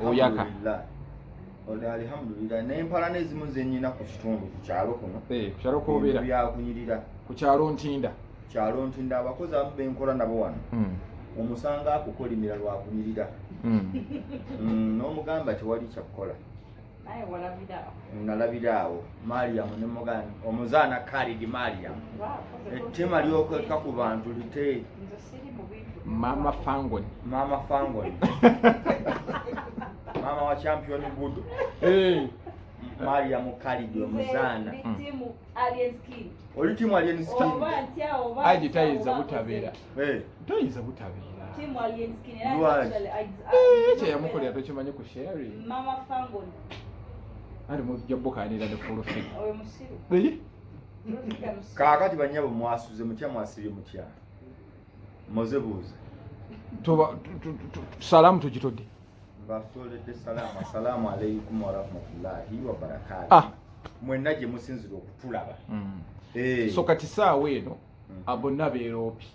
oyaka oyo alihamudulira nempala nezimu zenyina ku kitundu ku kyalo kuno eh, ku kyalo kobeera byakunyirira ku kyalo ntinda kyalo ntinda abakozi abamu benkola nabo wano hmm. omusanga akukolimira lwakunyirira hmm. hmm, n'omugamba tewali kyakukola nalabira awo mariyamu ne mugani omuzaana kalidi mariyamu ettema lyokweka ku bantu lite mama fangon mama fangon mama wa champion gudo eh. Maria Mukalidi omuzaana oli timu alien skin agitayiza butabeera Eh. toyinza butabeeraekyeyamukolera tokimanyi ku sheri ali mujja bukanira ne fulufi kakati banyabo mwasuze mutya mwasibye mutya moze buuza salamu tugitodde basoledde salamu assalaamu alaikum warahmatullahi wabarakatu ah. mwenna gye musinzira okutulaba mm. eh. so kati saawa eno mm-hmm. bonna beeroopi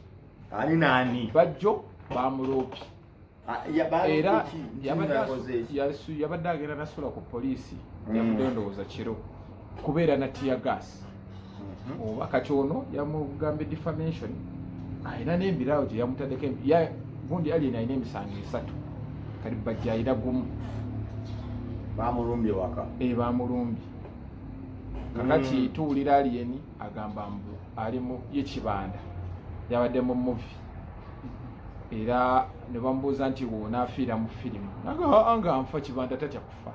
ani naani bajjo bamuloopi ah, era yabadde agenda nasula ku poliisi mm. yavudde endowooza kiro kubeera na tiya gaasi mm-hmm. oba kati ono yamugambye defamation alina n'embiraawo gye yamutaddeko gundi alien alina emisango esatu kati bajja alina gumu bamulumbye waka e bamulumbye kakati mm. tuwulira aliyeni agamba mbu ali mu ye kibanda yabadde mu muvi era ne bamubuuza nti wona afiira mu firimu nga nfa kibanda tatya kufa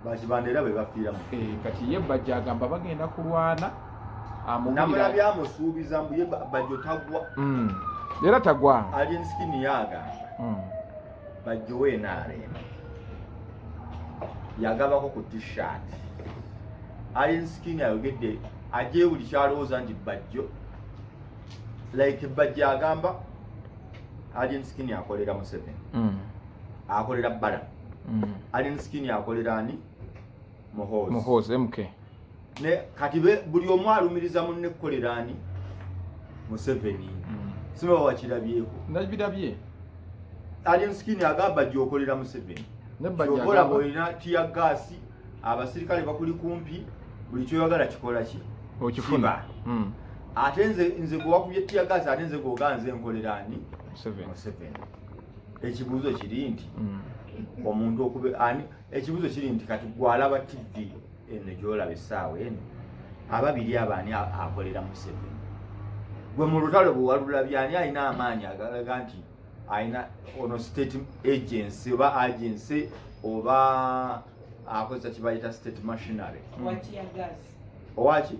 bakibanda era bwe bafiira mu eh, kati ye bajja agamba bagenda kulwana amubulabya amusuubiza mbu ye bajjo tagwa hmm. era tagwa ali ensikini yaagamba hmm. bajjowe nrm yagabako ku tshirt alien skin ayogedde aje buli kyalowooza nti bajjo like bajjo agamba alien skin akolera museveni mm. akolera bala mm. alien skin akolera ani muhoozi mk ne kati be buli omu alumiriza mu ne kolerani museveni mm. siba wakirabyeko ndabirabye alien skin agamba gyokolera museveni nebajja boyina tiya gasi abasirikale bakuli kumpi buli kyoyagala kikola ki okifuna mm. ate nze nze gwewakubye tiya gasi ate nze gwoganze nkolerani museveni ekibuuzo kiri nti mm. omuntu okube ani ekibuzo kiri nti kati gwalaba tv eno gyolaba essaawa eno ababiri abo ani akolera museveni gwe mu lutalo bwewalulabye ani alina amaanyi agalaga nti alina ono state agency oba agency oba akozesa kibayita state machinery owaki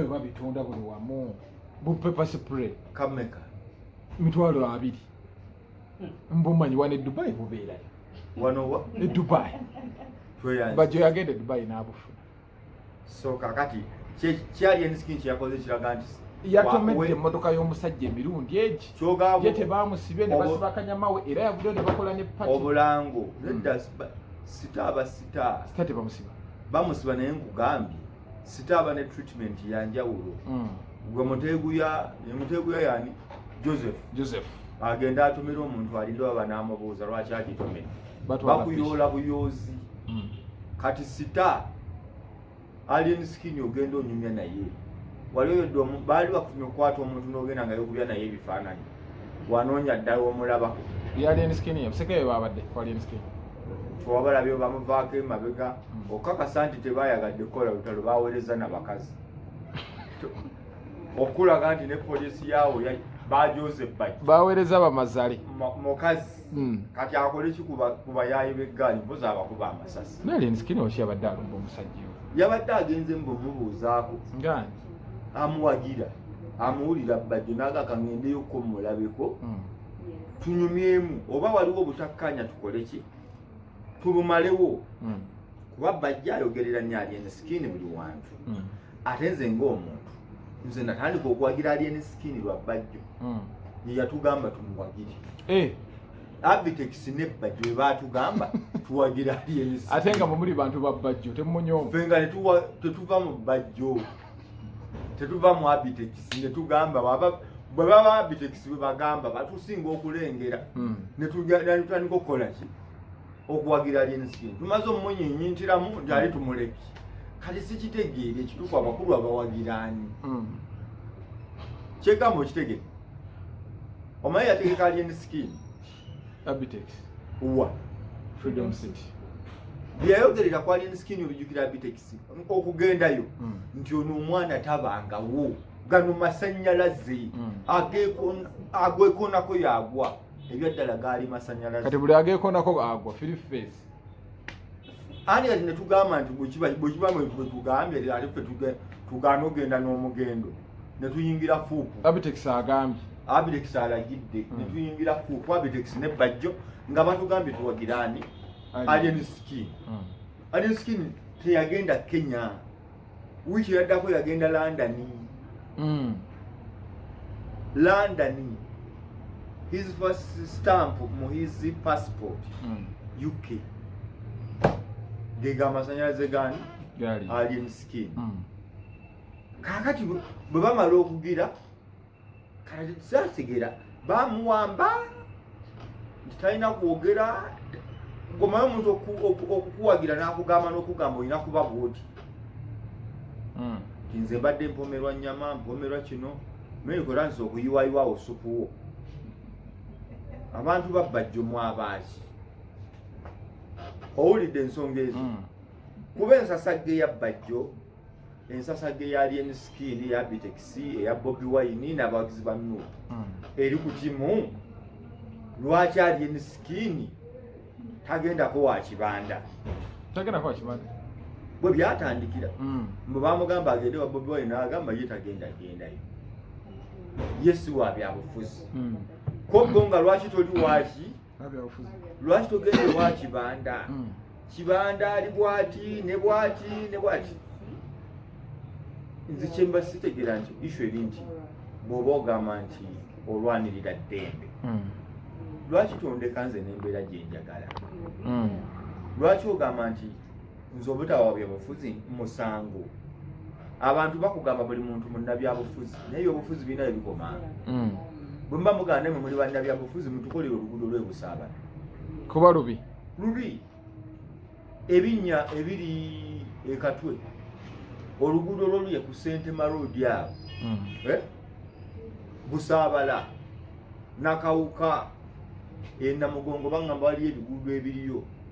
babitunda buli wamu bupepasipre kameka mitwalo abiri mbumanyi wano edubai bubeerayo wanowa edubai bajo yagenda edubai n'abufuna so kakati kyali enskin kyeyakoze kiraga nti yatomedde emmotoka y'omusajja emirundi egi ye tebamusibe ne basiba kanyama we era yavuddeyo ne bakola ne pati obulango hmm. nedda sita aba sita sita tebamusiba bamusiba naye nkugambye sitaaba ne treatment yanjawulo mm. gwe muteeguya muteeguya yani joseph joseph agenda atumira omuntu alinda baba n'amubuuza lwaki agitomera bakuyoola buyoozi mm. kati sita alien skin ogenda onyumya naye wali oyo baali bakutumya okukwata omuntu n'ogenda nga yokubya naye ebifaananyi wanoonya ddala omulaba twabalabye bamuvaako emabega hmm. okukakasa nti tebayagadde kukola lutalo bawereza nabakazi okulaga nti ne polisi yaawo bajoze baki bawereza bamazale mukazi hmm. kati akole ki ku bayaayi b'eggaali mpozi abakuba amasasi nali nsikini okyabadde alumba omusajja yabadde agenze mbu mubuuzaako amuwagira amuwulira bbajjo naaga kaŋendeyo ko mulabeko hmm. tunyumyemu oba waliwo obutakkaanya tukole ki tubumalewo hmm. kuba bajja ayogerera nyo alien skin buli wantu hmm. ate nze ngaomuntu nze natandika okuwagira alien skin lwa bbajjo yeyatugamba tumuwagire eh. Abitex ne Bajjo be baatugamba tuwagira aliens. Ate nga mumuli bantu ba Bajjo temunyoma. Ffe nga tetuwa tetuva mu Bajjo. Tetuva mu Abitex ne tugamba baba bwe baba Abitex bwe bagamba batusinga okulengera. Hmm. Ne tutandika okukola ki? Okuwagira aliens. Tumaze omunyinyi ntiramu nti ali tumuleki. Kati sikitegeere ekituufu abakulu abawagiraani. Hmm. Kyegamba okitegere. omanyi yategeka alien skin abitex wa freedom city byeyayogerera ku alien skin obijukira abitex okugendayo hmm. nti ono omwana tabangawo gano masanyalaze hmm. agwekonako yagwa ebyaddala gaali masanyalaze kati buli agekonako agwa firi face ani kati netugamba nti bwekibanga bwetugambye ate fe tugaana ogenda n'omugendo netuyingira fuupu abitex agambye abitex alagidde hmm. netuyingira fuupu abitex ne bajjo nga batugambye tuwagiraani alien skin hmm. alien skin teyagenda kenya wiiki yaddako yagenda london mm. london his first stamp mu his passport mm. uk gega amasanyalaze gani alien skin mm. kakati bwe bamala okugira kati sategera bamuwamba nti talina kwogera gomayo omuntu okukuwagira nakugamba nokugamba olina kuba bwoti hmm. nze mbadde mpomerwa nyama mpomerwa kino mekora nze okuyiwayiwawo supuwo abantu babbajjo mwabaaki owulidde ensonga ezo hmm. kuba ensasagge yabbajjo ensasage ya Alien Skin ya Bitex eya Bobby Wine n'abawagizi ba Nup hmm. eri ku kimu lwaki Alien Skin tagendako wa kibanda tagendako wa kibanda bwe byatandikira hmm. mbu bamugamba agende wa Bobby Wine n'agamba ye tagenda gendayo ye si wa byabufuzi hmm. kobbo nga lwaki toli waki lwaki togenda ewa kibanda hmm. kibanda ali bwati ne bwati ne bwati nze kyemba sitegera nti ishu eri nti bwoba ogamba nti olwanirira ddembe hmm. lwaki tondeka nze nembeera gyenjagala hmm. lwaki ogamba nti nze obutawa byabufuzi musango abantu bakugamba buli muntu munnabyabufuzi naye obufuzi birina ebikomanga mm. bwe muba muganda mwe muli bannabyabufuzi mutukolere oluguudo lwebusaabana kuba lubi lubi ebinnya ebiri ekatwe oluguudo lwoluye ku sentema road awo mm. eh? busaabala nakawuka enamugongo baŋamba waliyo ebiguudo ebiriyo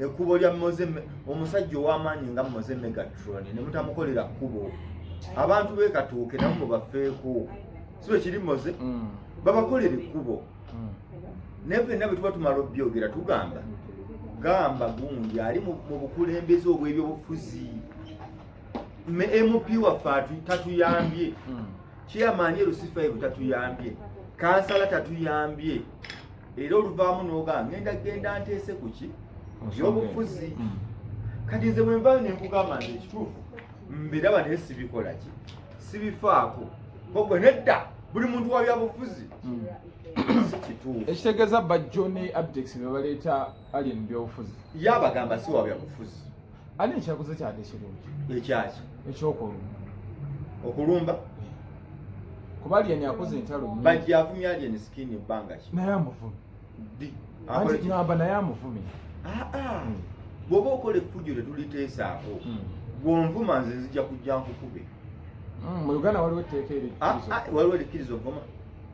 ekkubo lya moze omusajja ow'amaanyi nga moze megatron ne mutamukolera kkubo abantu bekatuuke nabo mubafeeko si bwe kiri moze mm. babakolera ekkubo mm. naye fenna bwe tuba tumala obyogera tugamba gamba gundi ali mu bukulembeze obw'ebyobufuzi mp waffe tatuyambye mm. chairman erusifa ebu tatuyambye kansala tatuyambye era oluvaamu n'ogamba ngenda genda nteese ku ki byobufuzi mm. kati nze bwe nvayo ne nkugamba nti ekituufu mbiraba naye sibikola ki sibifaako kogwe nedda buli muntu wa byabufuzi mm. si kituufu ekitegeeza bajjo ne abdex bebaleeta ali mu byobufuzi ye abagamba si wabya bufuzi ani ekyaguze kyade ekirungi ekyaki ekyokulumba okulumba eh. kuba aliyeni akoze entalo bajja avumya aliyeni sikini ebbanga ki naye amuvumi di namba naye amuvumi aa ah, ah. hmm. bwoba okola effujo tetuliteesaako hmm. gwonvuma nze nzija kujja nkukube hmm, mu uganda waliwo etteeka ah, waliwo erikkiriza ovuma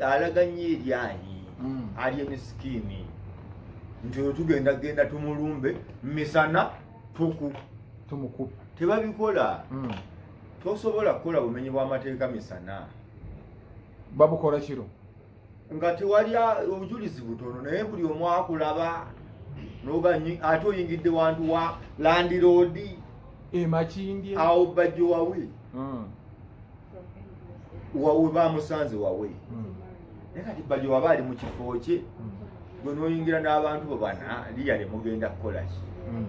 alaga nnyo eryanyi hmm. ali emisikiini nti oyo tugenda genda tumulumbe misana tuku tumukuba tebabikola hmm. tosobola kukola bumenyi bw'amateeka misana babukola kiro nga tewali obujulizi butono naye buli omu akulaba noganyi ate oyingidde wantu wa landiroodi emakindye awo bajjowawe hmm. wawe bamusanze wawe hmm. naye kati bali waba ali mu kifo kye hmm. gwe noyingira n'abantu bo bana liya ne mugenda kukola ki hmm.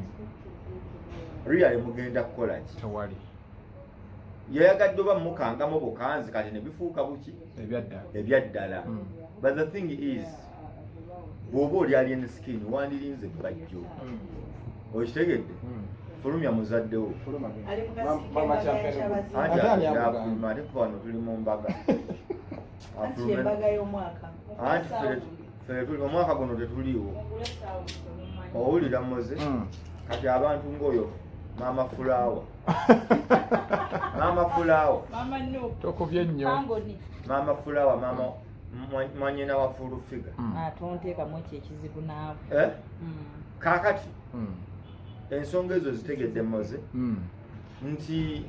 liya ne mugenda kukola ki tewali yayagadde oba mukangamu bukanzi kati ne bifuuka buki ebyaddala but the thing is bwoba oli alien skin wandirinze bajjo hmm. okitegedde hmm. fulumya muzaddewo afuluma ate kuba wano tuli mu mbaga anti fere tuli omwaka guno tetuliiwo owulira moze hmm. kati abantu ngaoyo mama fulawa mama fulawa tokubye nnyo mama fulawa mama mwanyina wa full figure hmm. atonteekamu ah, ekyo ekizibu naawe eh? hmm. kaakati hmm. ensonga ezo zitegedde moze nti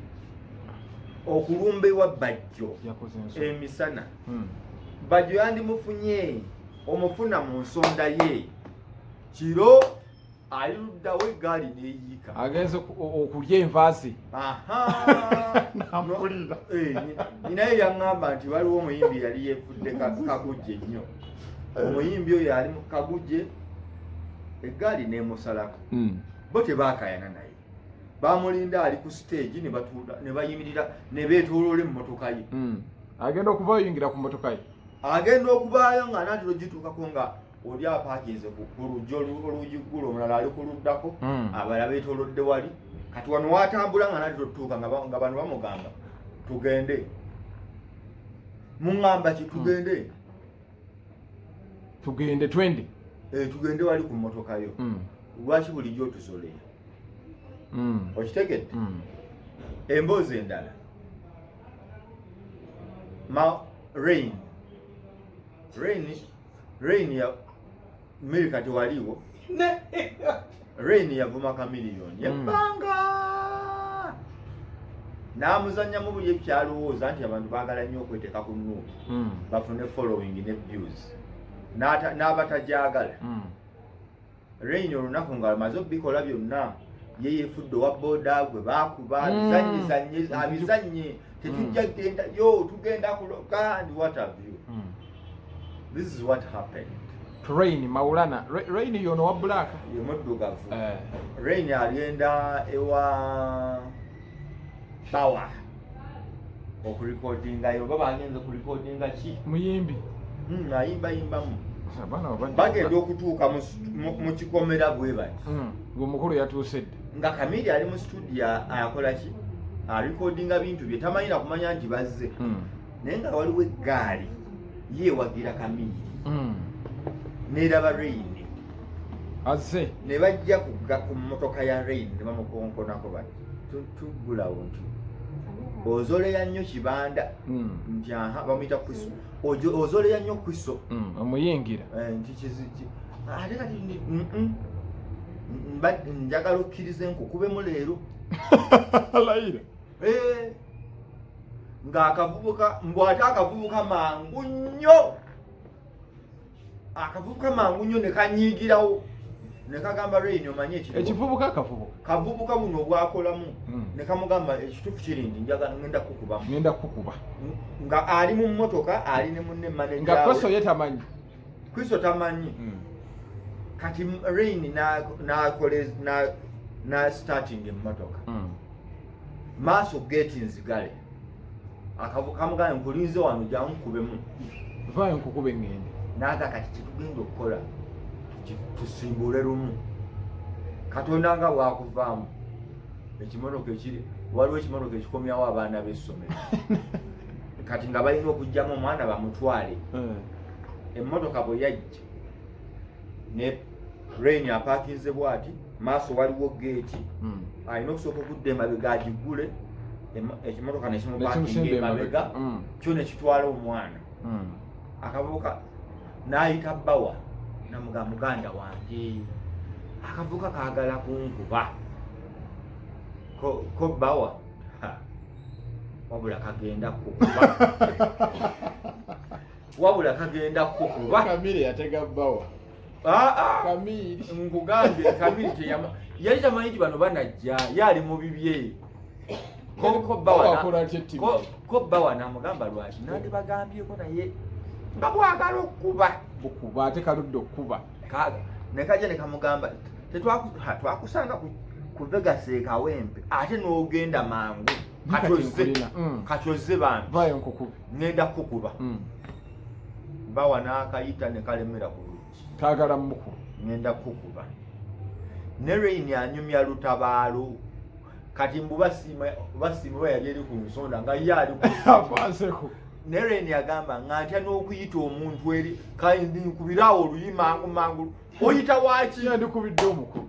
okulumba ewa bajjo emisana bajjo yandimufunye omufuna mu nsonda ye kiro ali luddawo eggaali neyiika agenze okulya enva ze nampulira eh, naye yaŋŋamba nti waliwo omuyimbi yali yefudde kagujje nnyo eh. omuyimbi oyo ali kagujje eggaali nemusalako hmm. bo tebakayana naye bamulinda ali ku siteegi nebayimirira nebeetoloola emmotoka ye hmm. agenda okuvayingira ku motoka ye agenda okubaayo nga natiro gituukako nga oli apakinze kulujja oluugi ggula omulala ali kuluddako hmm. abala betolodde wali kati wano watambula nga nati totuuka nga bano bamugamba tugende muŋamba ki tugende hmm. tugende twende eh, tugende wali ku motoka yo hmm. lwaki bulijjo otusolera okitegedde emboozi endala ma rain rain Rain ya Mary kati waliwo Rain yavuma Chameleon hmm. yebbanga n'amuzannyamu buli ekyalowooza nti abantu baagala nnyo okweteeka ku nuupu hmm. bafune following ne views n'abatagyagala hmm. Rain olunaku nga amaze okubikola byonna ye yefudde owa boda gwe bakuba mm. bizanye zanye abizanye mm. tetujja mm. genda yo tugenda kuloka and what have you mm. this is what happened train maulana rain yono wa black ye muddugavu eh. rain agenda ewa power okulikodinga yo baba agenze kulikodinga ki muyimbi hmm, ayimba yimbamu bagenda okutuuka mu kikomera bwe bati hmm, ng'omukulu yatuuse dde nga kamiri ali mu situdiyo akola ki alikodinga bintu bye tamanyi nakumanya nti bazze hmm. naye nga waliwo eggaali yeewagira kamiri neraba reyini azze ne bajja ku mmotoka ya reyini ne bamukonkonako bati tuggulawo nti ozoleya nnyo kibanda hmm. nti aha bamuyita kristo ozoleya nnyo kristo hmm, omuyingira eh, nti kiziki ate kati njagala okkiriza enku kubemu leero layira eh, ng'akavubuka mbwate akavubuka mangu nnyo akavubuka mangu nnyo ne kanyiigirawo ne kagamba reini omanye ekivubuka akavubuka kavubuka buno obwakolamu hmm. ne kamugamba ekituufu kiri nti njagala ngenda kukubamu ngenda kukuba nga ali mu mmotoka ali ne munne maneja nga kristo ye tamanyi kristo tamanyi hmm. kati reini na starting emmotoka hmm. maaso geti nzigale akamugaye nkulinze wano jangu kubemu vayo nkukube ngende naga kati kitugenda okukola tusimbule lumu katonda nga bwakuvaamu ekimotoka ekiri waliwo ekimotoka ekikomyawo abaana b'essomero kati nga balina okugyamu omwana bamutwale eh. emmotoka bwe yajja ne rain apakinze bwati maaso waliwo geeti hmm. alina okusooka okudda emabega agigule ekimotoka nekimupakinga emabega hmm. kyo nekitwala omwana hmm. akavubuka nayita bawa namuga muganda wange akavubuka kagala kunkuba ko bawa wabula kagenda kukuba wabula kagenda kukuba kamire yatega bawa ah, ah. kamiri nkugambye kamiri teyama yali tamanyi nti bano banajja yali mu bibye ko bawa namugamba lwaki nandibagambyeko naye nga bwagala okukuba bukuba ate kaludde okukuba nekajja nekamugamba twakusanga ku vegas ekawempe ate nogenda mangu katoze mm. bambi ngenda kukuba hmm. bawa n'akayita ne kalemera ku luki kaagala muku ngenda kukuba ne reyini anyumya lutabaalo kati mbu basiima basiima oba yali eri ku nsonda nga ye ali kuanseko ne reyini agamba nga ntya n'okuyita omuntu eri kandi nkubiraawo oluyi mangu mangu oyita waaki yandikubidde omukulu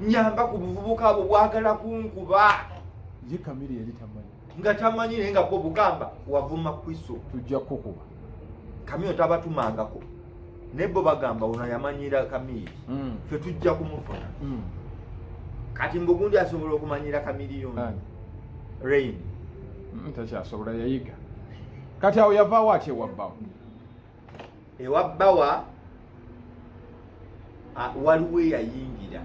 nyamba ku buvubuka abo bwagala kunkuba ye kamiri yali tamanyi nga tamanyi naye nga bwo bugamba wavuma kwiso tujja kukuba kamiyo tabatumangako naye bo bagamba ono yamanyira kamiri mm. fe tujja kumufuna mm. kati mbugundi asobola okumanyira kamiri yona rain mm, takyasobola yayiga kati awo yavaawo atyewabbawo ewa bawa waliwo eyayingira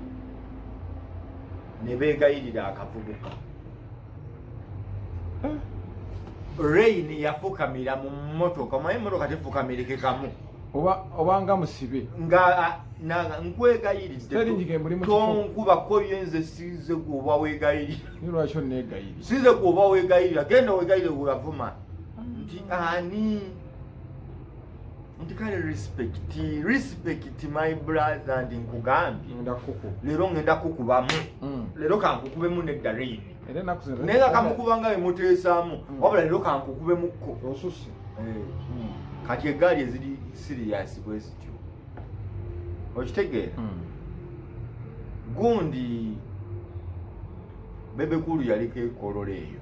ne beegayirira akavubuka hmm. rain yafukamira mu mmotoka mwaye emmotoka tefukamirikekamu obanga musibe nga nkwegayiriddetonkubakoyo yenze size gwoba wegayiririlwaki onegayiri size gwoba wegayirira genda wegayire weyavuma nti ani nti kale respect respect my brother ndi nkugambye leero ngenda kukubamu mm. leero kankukubemu ne darini naye nga kamukuba nga bemuteesaamu mm. wabula leero kankukubemukko eh, mm. kati egaali eziri siriyasi bwezityo okitegeera gundi bebekulu yaliko ekololo eyo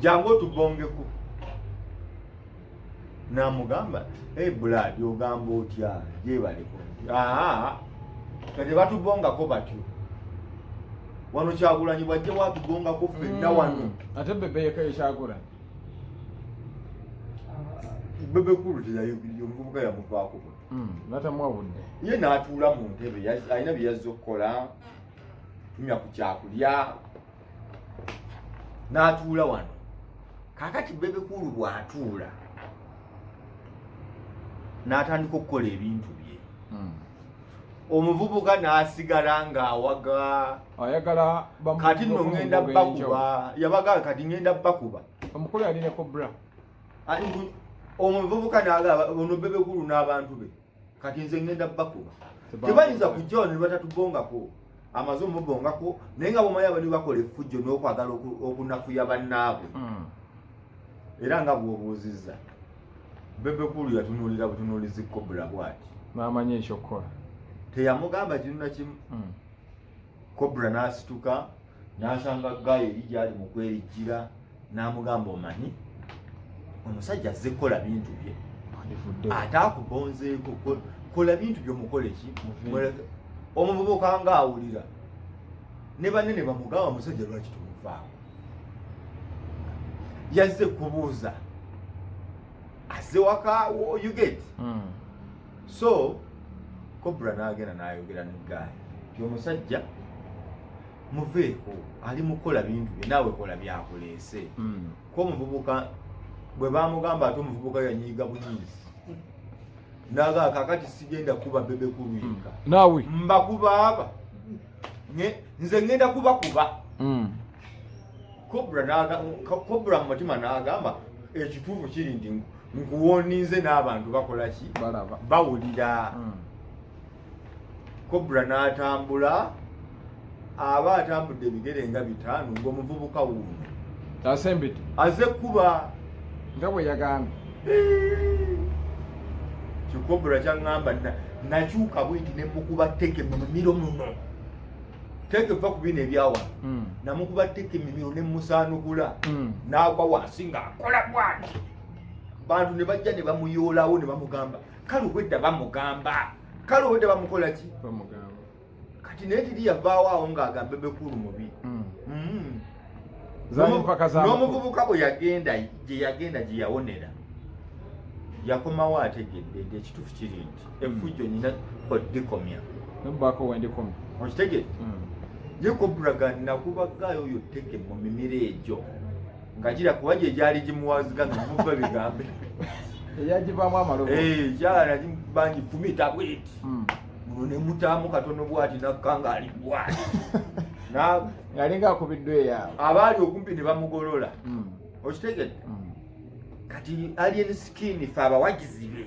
jangu otubongeko namugamba hey blood ogamba otya jebaleko aa kati batubongako batyo wano kyagulanyi bwajje watubongako fenna mm. wano ate bebe yeka ekyagulanyi bebe kulu teyayogiriye omuvubuka yamuvaako mm, natamwawudde ye natuula mu ntebe alina byeyazza okukola tumya ku kyakulya n'atuula wano kakati bebekulu bw'atuula n'atandika okukola ebintu bye hmm. omuvubuka n'asigala ng'awaga ayagala kati no ngenda bakuba yabaga kati ngenda bakuba omukulu yali ne kobra omuvubuka n'agaba ono bebekulu n'abantu be kati nze ngenda bakuba tebayinza kujja wano nebatatubongako amaze omubongako naye nga bomanyi abali bakola effujjo n'okwagala okunafuya bannaabwe hmm. era nga bwobuuzizza bebekulu yatunuulira butunuulizi kobula bwati n'amanya ekyokukola teyamugamba kinu nakimu hmm. kobula n'asituka n'asanga gayo eri gyali mu kwerijjira n'amugamba omanyi omusajja azze kukola bintu bye ate akugonzeeko kola bintu byomukole ki omuvubuka nga awulira ne banne ne bamugamba musajja lwaki tumuvaako yazze kubuuza azze waka uget hmm. so kobra n'agenda n'ayogera ne gaaya yomusajja muveeko ali mukola bintu bye naawe kola byakuleese hmm. ko omuvubuka bwe bamugamba ate omuvubuka yanyiiga buyinzi naga kakati sigenda kuba bebe kulwinka hmm. naawe mbakuba aba nze ngenda kuba kuba hmm. kobra mu mutima nagamba ekituufu kiri nti nkuwoninze n'abantu bakola ki bawulira kobra n'atambula aba atambudde ebigere nga bitaano ng'omuvubuka wuuno asembedde aze kuba nga bwe yagambye kikobra kyaŋŋamba nakyuka bwenti ne mukuba teke mu mumiro muno teke va ku bino ebyawa hmm. namukuba teke mumiro ne musaanukula hmm. n'agwa wansi ng'akola bwati bantu ne bajja ne bamuyoolawo ne bamugamba kale obwedda bamugamba kale obwedda bamukola ki bamugamba kati naye tiri yavaawo awo ng'agambe bekulu mubi hmm. Hmm. n'omuvubuka bwe yagenda gye yagenda gye yawonera yakomawo ategedde nti ekituufu kiri nti hmm. efujjo nyina odikomya nobaako wendikomya okitegedde ye koburaga nakubagaayo oyo teke mu mimiro egyo nga kira kuba gye gyali gimuwaziga nga muva bigambe eyagivaamu amalobo eh, gyala bangi fumita bweti hmm. muno ne mutaamu katono bwati nakkanga ali bwati ngalinga akubiddwa eyaabo abaali okumpi ne bamugolola hmm. okitegedde hmm. kati alien skin fe abawagizi be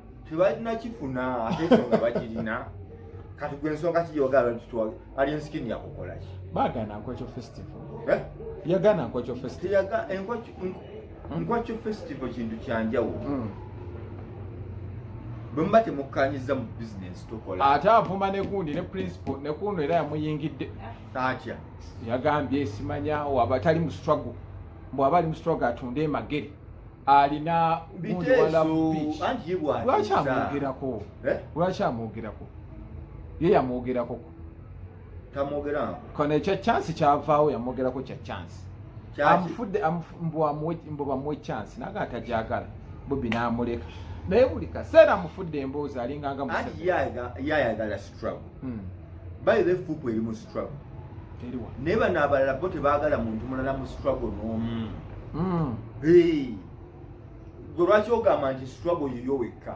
tebalina kifuna ate ensonga bagirina kati gwe ensonga kiyogala kitwale ali ensikini yakukola ki bagana nkokyo festival eh? yagana nkokyo festival nkokyo festival kintu kyanjawulo hmm. bwemuba temukkanyiza mu bizinensi tukola ate avuma nekundi ne principal nekundi era yamuyingidde atya yagambye simanya waba tali mu struggle bwaba ali mustruggle atunde emagere alina gundi walabulwaki amwogerako eh? lwaki amwogerako ye yamwogerako kono ekya chance kyavaawo yamwogerako kya chance amufudde mbu bamuwe chance naga atajagala bobi namuleka naye buli kaseera amufudde emboozi alinganga museveni struggle hmm. by the fupu eri mu struggle naye bano abalala bo tebagala muntu mulala mu struggle n'omu hmm. gwe lwaki ogamba nti struggle yiyo wekka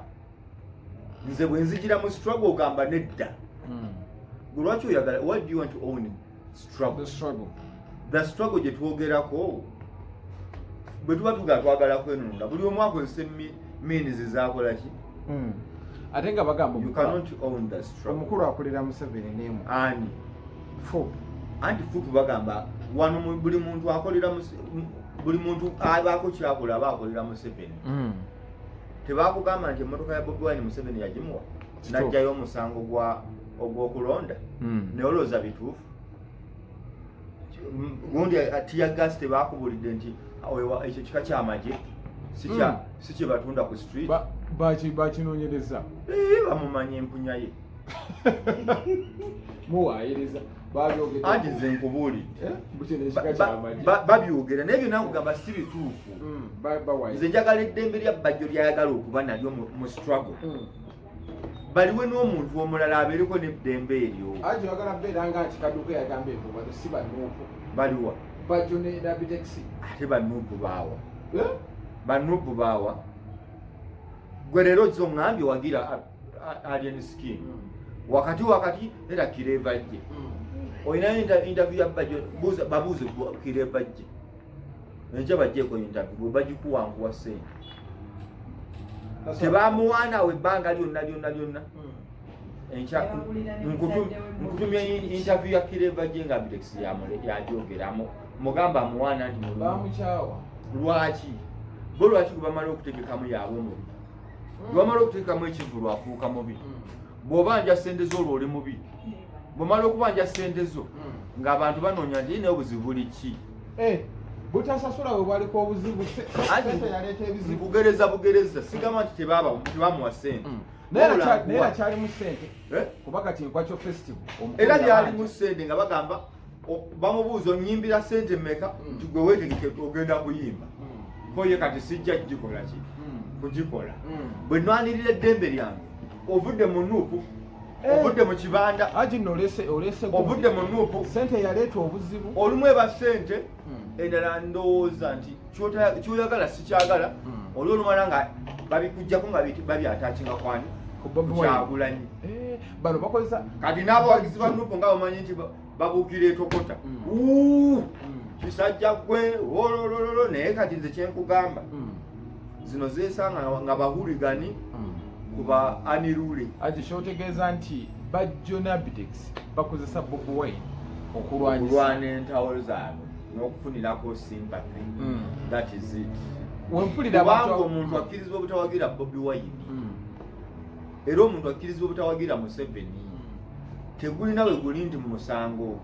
nze bwe nzijira mu struggle ogamba nedda hmm. gwe lwaki oyagala what do you want to own struggle the struggle the struggle gye twogerako bwe tuba tugala twagala kwenunula buli omu akozesa minizi zakola ki hmm. ate nga bagamba omukulu akulira museveni nemu ani fup anti fup bagamba wano buli muntu akolera buli muntu abaako kyakola aba akolera museveni hmm. tebakugamba nti emotoka ya bobi wine museveni yagimuwa najjayo omusango gwa ogwokulonda hmm. naye olowooza bituufu gundi atiyagasi tebakubulidde nti ekyo kika kyamagye si kyebatunda hmm. ku street bakinonyereza eh, bamumanya empunya ye muwayiriza anti nze nkubuulidde babyogera naye byona nkugamba si bituufu hmm, nze njagala eddembe lya bajjo lyayagala okuba nalyo mu struggle hmm. baliwe n'omuntu omulala abeereko n'eddembe eryo ajo yagala beera nga nti kaduka yagamba ebyo bano si banuupu baliwa bajo ne dabitexi ate banuupu baawa eh? banuupu baawa gwe leero zo ngambye wagira alien skin hmm. wakati wakati era kireva jje hmm. olinayo interview ya bajo babuuze kireva jje enkya bajjeeko interview bagikuwankuwa sente tebamuwaana awo ebbanga lyonna lyonna lyonna hmm. nkutumya interview ya kireva gye nga bitex yajoogeramu mugamba amuwaana nti bamukyawa lwaki bo lwaki gwebamala okutegekamu yaabwe mubi hmm. gwebamala okutegekamu ekivulu afuuka mubi hmm. bw'oba nja sente zo olwo oli mubi bwomala okubanja sente zo ng'abantu banoonya nti naye obuzibu buli ki eh, butasasula bwe bwaliko obuzibu yaleeta ebizibu bugereza bugereza sigamba nti tebamuwa sente mm. naye kyalimu sente eh? kuba kati enkwaco festival era byalimu sente nga bagamba bamubuuza onyimbira sente meka mm. nti gwe wetegeke ogenda kuyimba mm. koye kati sijja kugikolaki kugikola bwe nwanirira eddembe lyange ovudde mu nuupu Eh. ovudde mu kibanda ovudde mu nuupu sente yaleeta obuzibu olumu eba sente hmm. endala ndowooza nti kyoyagala sikyagala hmm. oli olumala nga babikujjako nga babyatakinga kwani kyagulanyi eh, bano bakozesa kati n'abawagizi ba nuupu nga bamanyi nti babugira etokota mm. kisajja gwe wololololo naye kati nze kyenkugamba mm. zino zesanga nga bahuligani mm. kuba anirule ati kyotegeeza nti bajjonabitex bakozesa bobi wine okulwana entawo zaabwe n'okufunirako sympathy that is it wempulira abantu omuntu akkirizibwa obutawagira bobi wine era omuntu akkirizibwa obutawagira museveni tegulina we guli nti mu musango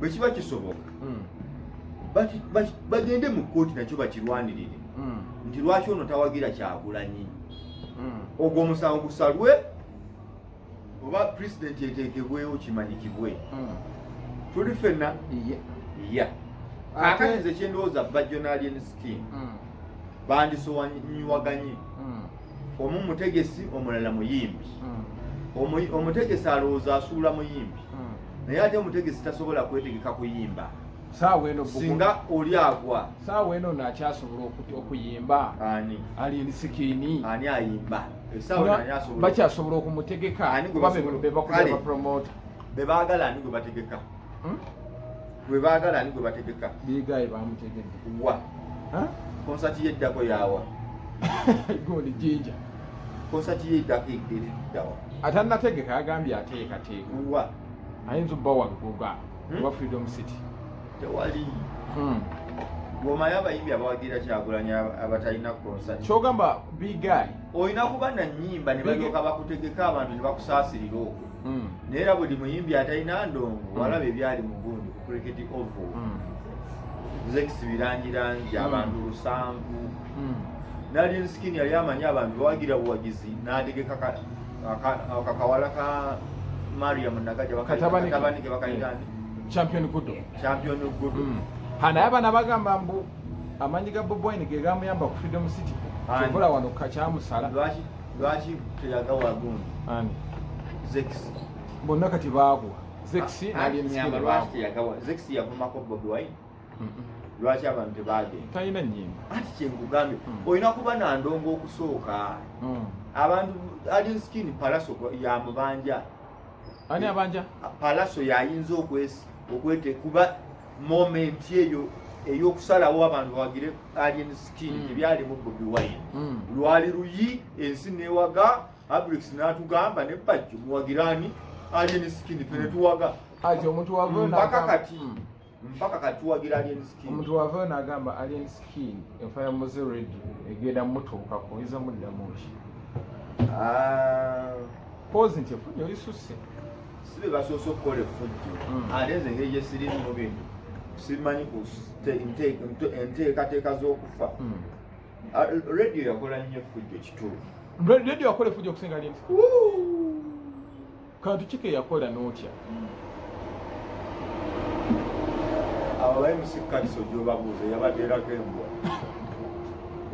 bwe kiba kisoboka hmm. bagende mu kkooti nakyo bakirwanirire hmm. nti lwaki ono tawagira kyagulanyi hmm. ogwo omusango gusalwe oba pulezidenti eteekebwewo kimanyikibwe tuli fenna ya akatinze kyendowooza bajonalien skin bandisowanyiwaganye omu mutegesi omulala muyimbi hmm. omutegesi alowooza asuula muyimbi hmm. naye ate omutegesi tasobola kwetegeka kuyimba singa oli agwa saawa eno nakyasobola okuyimba ali ensikini ani ayimba bakyasobola okumutegeka bebaagala ani gwe bategeka hmm? gwe baagala ani gwe bategeka bigayi bamutegedde wa konsati yeddako yawa goli jinja konsati yeddako eddawa atanategeka agambye ateekateeka wa ayinza obba walugoga hmm? oba freedom city tewali hmm. gwomayo abayimbi abawagira kyagulanya abatalina konsati kyogamba bigayi olina kuba nanyimba ne balyoka bakutegeka abantu ne bakusaasirira okwo hmm. naye era buli muyimbi atalina ndongo hmm. walaba ebyali mu gundi ku cricket ovo hmm. zekisi birangirangi abantu lusanvu nali nsikini yali amanyi abantu bawagira buwagizi n'ategeka kakawala ka mariam nagaja bakatabanike bakayita nti champion gudo champion gudo hanaye abana bagamba mbu amanyi ga boboine gegamuyamba ku freedom city kyokola wano kakyamusala lwaki teyagawa gundi ani zex bonna kati baagwa zex yavumako bobi wine lwaki abantu tebagenda talina nyimba anti kyenkugambye mm. olina kuba na ndongo okusooka mm. abantu alien skin palaso yamubanja ani abanja palaso yayinza okwesi okwete kuba moment eyo eyokusalawo abantu bawagire alien skin mm. ebyali mu bobi wine mm. lwali luyi ensi newaga abrix natugamba ne bajjo muwagirani alien skin fene mm. tuwaga aje omuntu wavyo mpaka kati mm. mpaka kati tuwagira alien skin omuntu wavyo nagamba alien skin enfa ya muzi red egenda mutuuka ko iza mudda mushi ah pose nti fujo isuse si be basoose okukola effujjo hmm. ate nze engeri gye sirimu mu bintu simanyi ku enteekateeka z'okufa hmm. ah, radio yakola nnyo effujjo kituufu radio yakola effujjo okusinga linti kantu kike yakola n'otya hmm. abo baye musikkaliso gyobabuuza yabadde erako embwa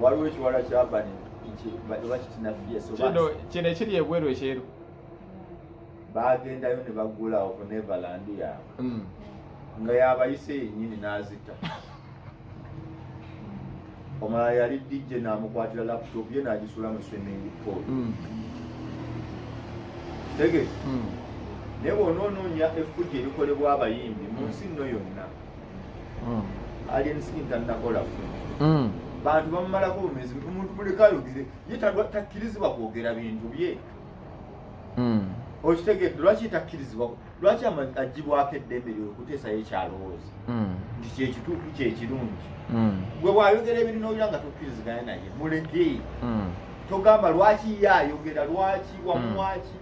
waliwo ekiwala kyabani bakitinafiyeso kino ekiri ebweru ekyeru bagendayo ne bagula oku neverland yaabwe hmm. nga yabayise yennyini n'azita omala yali dj namukwatira laptop ye nagisula mu swimming pool hmm. tege hmm. naye bona onoonya effugi erikolebwa abayimbi mu nsi nno yonna aliensi ntanakola fu bantu bamumalako bumezi omuntu muleka ayogere ye takkirizibwa kwogera bintu bye hmm. okitegedde lwaki takkirizibwa lwaki agibwako eddembe lyo okuteesayo ekyalowooza hmm. nti kyekituufu kyekirungi hmm. gwe bwayogera ebirina olira nga tokkiriziganya naye muleke togamba lwaki ye ayogera lwaki wamuwaki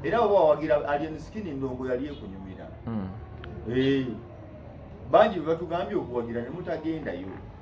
era baba wawagira alien skin ndongo yali ekunyumira eh, bangi bebatugambye okuwagira nemutagendayo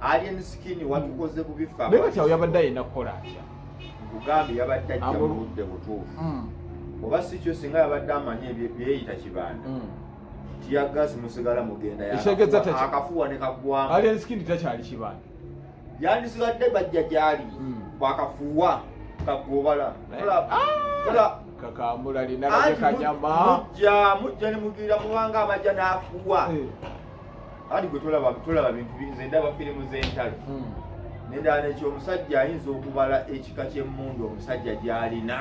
Alien skin watukoze bubi fama. Naye kati yabadde ayina kukola atya? Nkugambye yabadde ajja mu budde butuufu. Hmm. Oba si kyo singa yabadde amanyi ebyeyita kibanda. Hmm. Tiyagasi musigala mugenda ya. Ekitegeeza taki? Akafuwa ne kagwamu. Alien skin takyali kibanda. Yandisigadde bajja gyali. Hmm. Bwakafuwa kagobala. Kola. Kola. Ah! kakambula lina kanyama mujja mujja ne mugira mubanga abajja nafuwa eh. ati gwe tolaba tolaba bintu nze ndaba firimu z'entalo hmm. nendala nekyo omusajja ayinza okubala ekika ky'emmundu omusajja gy'alina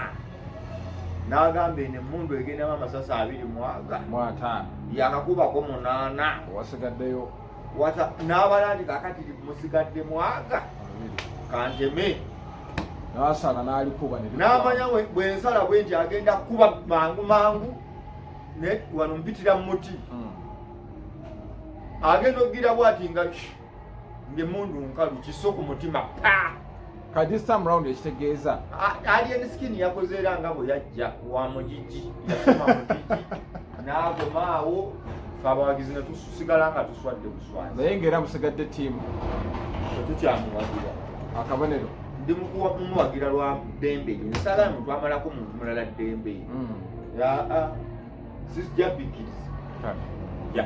n'agamba eno emmundu egendamu amasasi abiri mwaga mwataano yakakubako munaana wasigaddeyo n'abala nti kakati musigadde mwaga kanteme nasala n'alikuba n'amanya bwensala bwe nti agenda kukuba mangu mangu wano mpitira mu muti hmm. agenda okugira bwati nga ngaemundu nkalu kiso ku mutima pa kati some round ekitegeeza alien skin yakoze era nga bwe yajja wa mugigi yasoma mugigi n'agomaawo fe abawagizi ne tusigala nga tuswadde buswazi naye ngaera musigadde tiimu tetukyamuwagira akabonero ndi mukuwa mumuwagira lwa ddembe nsala mutwamalako muntu mulala ddembe mm. aa sijja bikkiriza ya